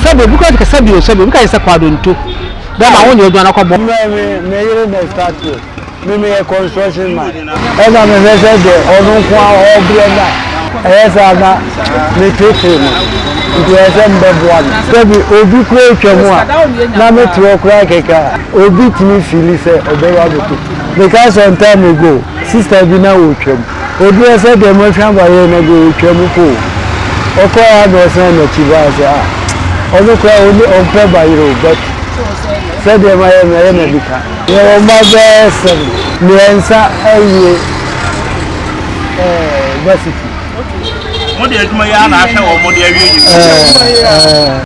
Sɛbi obi kura kasa bi o sɛbi obi ka yɛ sɛ kɔ adonto dɛ ma wo nyɛ adwuma na kɔ bɔ. Mmerɛ me me yere na start yɛ me me yɛ construction man ɛna me hwɛ sɛ deɛ ɔno nko ara ɔbrɛ na ɛyɛ saa na me tete no nti ɛyɛ sɛ me bɛ boa no sɛbi obi kura atwa mu a na me te hɔ kura kɛkɛ a obi tumi fili sɛ ɔbɛba abɛku me ka some time ago sister bi na ɔtwa mu Oduɛɛ sɛ deɛ Mɔhwɛn ba yɛɛ na deɛ ɔtwa mu po o. Ɔkɔɛ a na ɔsan nakyi baa sɛ ah ɔno koraa ɔni ɔmpɛ ba yere o but sɛ deɛ mayɛ no ɛyɛ na nika. Yɛwɔ mma bɛɛ sɛn? Miɛnsa awie ɛɛ varsity. Okay mo de adwuma yi ara na ahwɛ wɔn de awie university.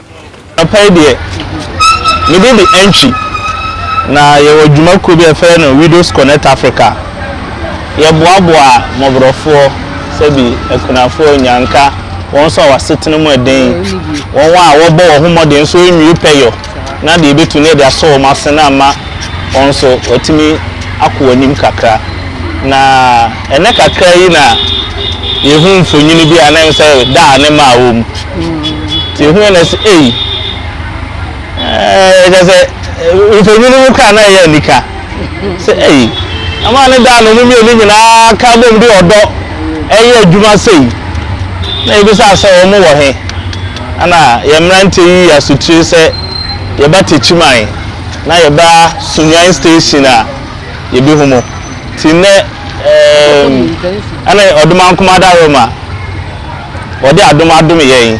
Anɔpa yi deɛ, mede de Antwi, na yɛwɔ dwuma kuo bi a yɛfrɛ no Widows Connect Africa. Yɛboaboa mmɔborɔfoɔ, sɛbi akunafoɔ, nnyanka, wɔn nso a wɔn asetena mu yɛ den, wɔn a wɔbɔ wɔn ho mmɔden nso wɔnwie pɛyɔ, na deɛ yɛbɛtumi no yɛde asɔ wɔn asene ama wɔn nso wɔatumi akɔ wɔn anim kakra. Na. Ɛnnɛ kakraa yi na yɛhu mfonini bi a na ɛyɛ sɛ da a ne mma wɔ mu. Nti yɛhu yɛ na sɛ ei, ɛɛ kyɛ sɛ mfonini no koraa na ɛyɛ anika. Sɛ ei, ama ne da a na wɔn mmienu nyinaa ka bom de ɔdɔ ɛyɛ adwuma sei. Na yɛbisa sɛ wɔn wɔ he? Ɛna yɛn mmeranteɛ yi yi asotire sɛ yɛba Techiman na yɛba Sunyani station a. yebehu mu. Nti nnɛ ɛɛm ɛne Ɔdomankoma da Rome a wɔde adom adom yɛn.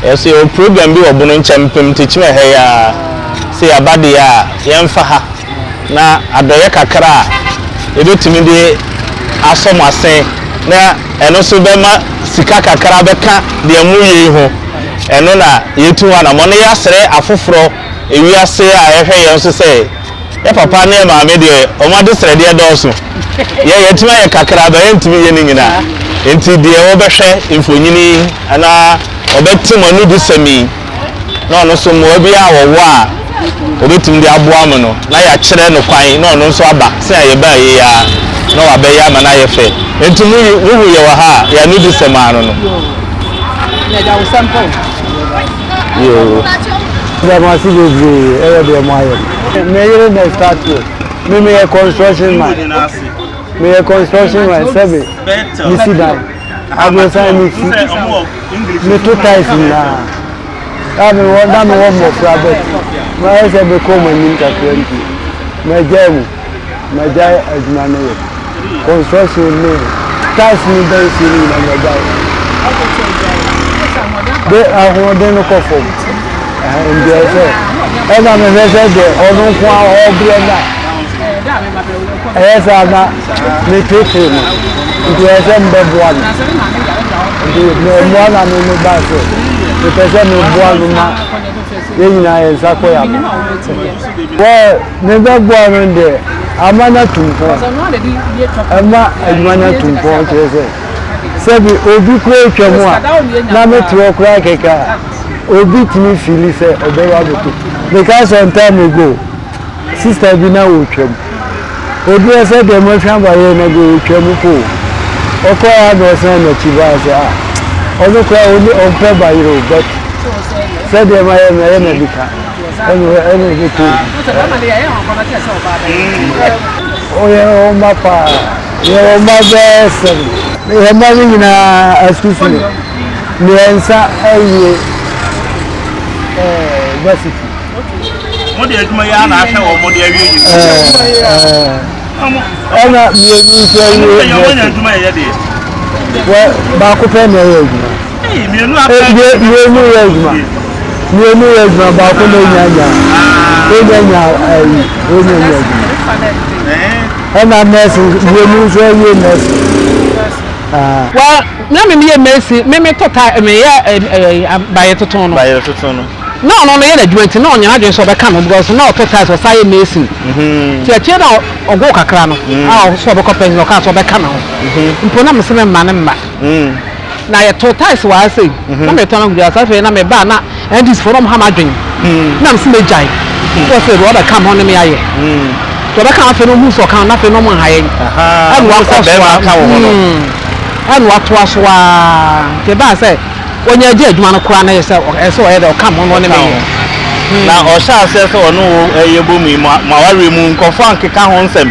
Yɛn nso yɛwɔ program bi wɔ Bono nkyɛn mpem ntekyim ɛha yi ara. Sɛ yɛaba deɛ a, yɛmfa ha na adɔeɛ kakra a yɛbɛtumi de asɔ mo asen na ɛno nso bɛma sika kakra bɛka deɛ moreyɛ yi ho. Ɛno na yɛatu ho anammɔn na yɛasrɛ afoforɔ, ewiase a ɛhwɛ yɛn nso sɛ, Yɛ papa ne yɛ maame deɛ wɔn adesrɛdeɛ dɔɔso. Yɛ yɛtumi ayɛ kakra but yɛntumi yɛ ne nyinaa. Nti deɛ wɔbɛhwɛ mfonyini yi anaa wɔbɛte mo anudisɛm yi na ɔno nso mmoa bi a wɔwɔ a wɔbɛtumi de aboa mo no na yɛakyerɛ no kwan na ɔno nso aba sɛnea yɛbaa yei ara na wabɛyɛ ama no ayɛ fɛ. Nti mo yi, wohu yɛwɔ ha a yɛ anudisɛm ara no no. yoo. Yɛda mo ase bebree ɛwɔ deɛ mo ayɛ no. Me yere na start o. Me meyɛ construction man. Meyɛ construction man sɛbe me si dan. Aborosan me si. Me to tiles nyinaa. Na me wɔ na me wɔ mmɔfra but mayɛ sɛ me kɔn mu anim kakra nti magyae mu. magyae adwuma no yɛ. Construction ne tiles ne dansie no nyinaa magyae. De ahoɔden no kɔ fam. Ɛndeɛ sɛ ɛna mehwɛ sɛ deɛ ɔno nko a ɔbrɛ no a ɛyɛ saa na metete no nti ɛyɛ sɛ mbɛboa no nti mmoa na me me baa sɛ mepɛ sɛ meboa no ma yɛn nyinaa yɛn nsa kɔ yɛ abɔ Wɔ ne bɛboa no de ama no atu mpɔn, ɛma adwuma no atu mpɔn, kyerɛ sɛ, sɛbi obi koraa retwam a, na me te hɔ koraa kɛkɛ a, obi tumi fiili sɛ ɔbɛba abɛto mu. Mekaa some time ago, sister bi na ɔretwam, ɔduru hɔ sɛ deɛ moahwɛ aba yɛ na deɛ ɔretwa mu po o, ɔkɔeɛ a na ɔsan n'akyi baeɛ sɛ ah, ɔno koraa ɔmpɛ bayerɛ o, but sɛdeɛ mayɛ no, ɛyɛ na bi ka. Ɛnneɛ ɛne wo bɛtu. Woyɛ wo mma paa. Yɛ wo mma bɛɛ sɛn. Yɛ mma no nyinaa asusu. Mmiɛnsa awie basiti. Mode adwuma yi ara na ahwɛ wɔn mode awie yi. Ɛna mmienu nso awie basiti. Baako pɛ na ɛyɛ adwuma. Mienu yɛ adwuma. Mienu yɛ adwuma baako na enya nya. Enya nya ayi enya nya adwuma. Ɛna nɛɛsi mienu nso ɛyɛ nɛɛsi. Wa na mi mi yɛ nɛɛsi mi mi to ta mi yɛ ɛɛ bayɛ tuntun no. Bayɛ tuntun no. Na ɔno no yɛ n'adwuma nti na ɔnyɛ n'adwene sɛ ɔbɛka no because na ɔto tiles ɔsan yɛ nɛɛsi. Ti akyire na ɔgo kakra no a ɔso ɔbɛkɔ pɛn na ɔka sɛ ɔbɛka ne ho. Mpo na mi se mi mma ne mma. na yɛtoo tiles wɔ ha sei na metɔn agu gya so afei na meba a na NDC foɔ na wɔha m'adwene na mese mɛgyae so ɔsɛ deɛ ɔbɛka me hɔ ne me ayɛ deɛ ɔbɛka afei na ɔhu sɛ ɔka na afei na ɔmo nha yɛn ɛna wakɔ so a ɛna watoa so a nti ɛbaa sɛ wɔnya agya adwuma no koraa na yɛ sɛ ɛsɛ ɔyɛ deɛ ɔka me ho na ɔne me yɛ na ɔhyɛ aseɛ sɛ ɔne wo ɛyɛ bɔ mu yi mo awareɛ mu nkɔfoɔ ankeka ho nsɛm.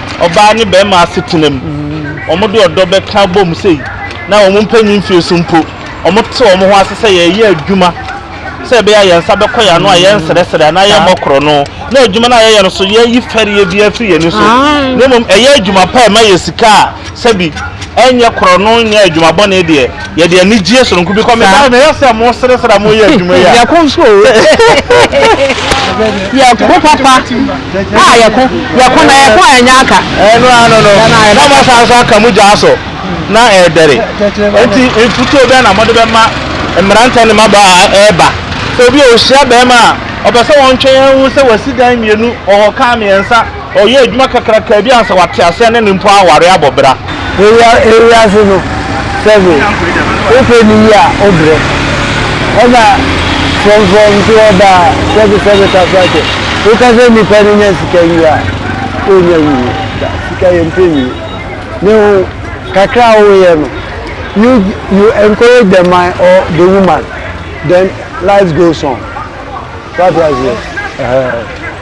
ɔbaa ne barima asetena mu. Wɔde ɔdɔ bɛka abom sei na wɔn mpanyin mfie so mpo, wɔte wɔn ho ase sɛ yɛreyɛ adwuma sɛ ɛbɛyɛ a yɛn nsa bɛkɔ yɛn ano a yɛnsrɛsrɛ anaa yɛmmɔ korɔno. Na adwuma no a yɛyɛ no so, yɛyi fɛreɛ bi afiri yɛn ani so, na mmom ɛyɛ adwuma pa a ɛma yɛ sika a Sɛbi, ɛnyɛ korɔno nyɛ adwuma bɔne deɛ, yɛde anigyeɛ sononko bi kɔ. Meda no yɛ sɛ moresresre a moreyɛ adwuma yi a. Yɛko nso o, yɛko papa a yɛko, yɛko na yɛko a ɛnyɛ aka. Ɛno ano no, na moasan nso aka mo gyaa so na ɛredɛre. Enti mfutuo bɛn na mode bɛma mmeranteɛ ne mmabaa a ɛreba sɛ obi a ɔhyia barima a ɔpɛ sɛ wɔntwɛn ahu sɛ wasi dan mmienu, ɔwɔ kaa mmiɛnsa, Ɔyɛ adwuma kakrakaa bi ansa wate aseɛ ne no mpo aware abɔ bra. Ewiase no sɛbe wohwɛ no yie a wobrɛ. Ɛna frɔmfrɔm nso wɔ ba a sɛbe sɛbe ka so akyɛ. Woka sɛ nipa no nya sika wie a ɔnya nwie da. Sika yɛ mpɛ nwie. Ne ho kakra a woyɛ no you you encourage the man or the woman then life goes on. Wate aseɛ? Ɛhɛɛ.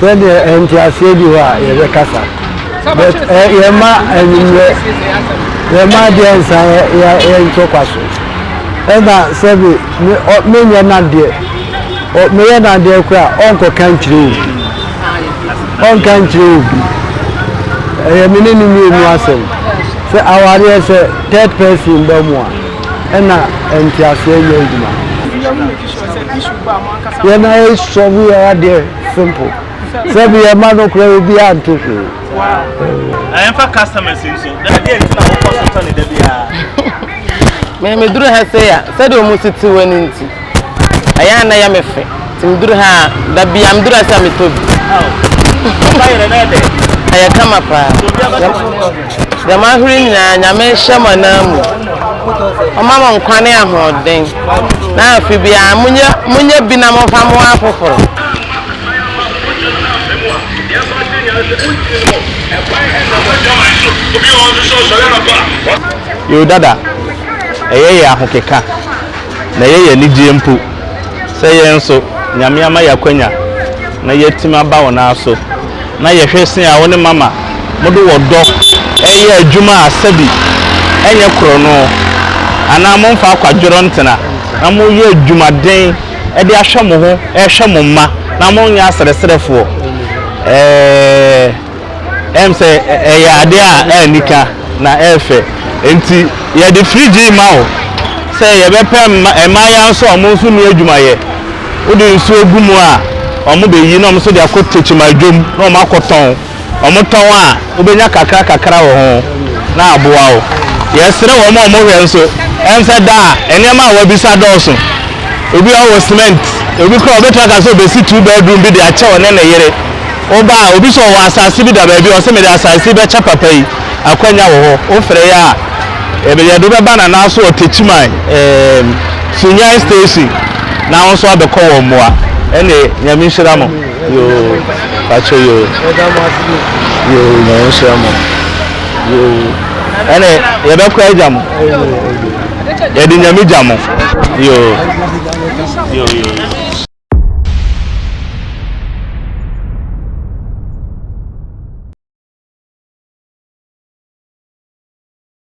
Sɛdeɛ nteaseɛ bi hɔ a yɛbɛkasa but eh, yɛma anwummerɛ yɛma adeɛ nsa yɛntɔ kwa so ɛna sɛbe menyɛ nadeɛ meyɛ nadeɛ kora a ɔnkɔka nkyerɛ obi ɔnka nkyerɛ obi ɛyɛ me ne no mmienu asɛm sɛ awareɛ sɛ third person ba mu a ɛna nteaseɛ nyɛ adwuma Yɛn ara yi sɔre yɛ adeɛ simple. Sɛ bi yɛ ma no kura obi a nte hwee. Ɛnfa customers nso. Na deɛ nti na wokɔ so tɔ ne da biara. Me me duru ha sɛ ya sɛ de ɔmo si ti wɔ ne nti. Ɛyɛ ana yɛ me fɛ. Ti me duru ha da biara me duru ha sɛ me tɔ bi. Ɛyɛ kama paa. Dɛm ahorow yi nyina, Nyame nhyɛ mo ananmu, Ɔma mo nkwa ne ahoɔden, na afe biara monyɛ monyɛ bi na momfa mmoa afoforo. Yodada, Ɛyɛ yɛ ahokeka, na ɛyɛ yɛ anigyeɛ mpo, sɛ yɛn nso Nyame ama yɛ akwanya na yɛatim aba wo nan so. na yɛhwɛ se a wo ne Mama mode wɔ dɔ reyɛ adwuma a sɛbi ɛnyɛ korɔno anaa momfa akwadworɔ ntena na moreyɛ adwumaden de ahwɛ mo ho rehwɛ mo mma na monyɛ aserɛserɛfoɔ. Ɛɛ, ɛm sɛ ɛyɛ adeɛ a anika na ɛyɛ fɛ. Enti yɛde fridge yi ma wo sɛ yɛbɛpɛ mma mmaayaa nso a wɔn nso nni adwumayɛ Wode nsuo gu mu a, wɔbɛyi na wɔn nso de akɔ tekyima adwam na wɔakɔtɔn. Wɔtɔn a, wobɛnya kakra kakra wɔ ho na aboa wo. Yɛsrɛ wɔn a wɔhwɛ nso, ɛnsɛ da a nneɛma a wɔabisa dɔɔso. Obi a ɔwɔ cement, obi koraa ɔbɛtumi aka sɛ ɔbɛsi two bedroom bi de akyɛ ɔne ne yere. Woba a, obi nso ɔwɔ asase bi da baabi a ɔse mede asase yi bɛkyɛ papa yi, akwanya wɔ hɔ. Wofrɛ yɛn a. Yɛde yɛn de bɛba Nanaso Ɔtakyiman eem Sunyani station na wo nso abɛkɔ wɔn mmoa. Ɛne Nyame nhyira mo yoo pakyɛ yoo yoo Nyame nhyira mo yoo ɛne yɛbɛkɔ agya mo yɛde Nyame gya mo yoo yoo yoo.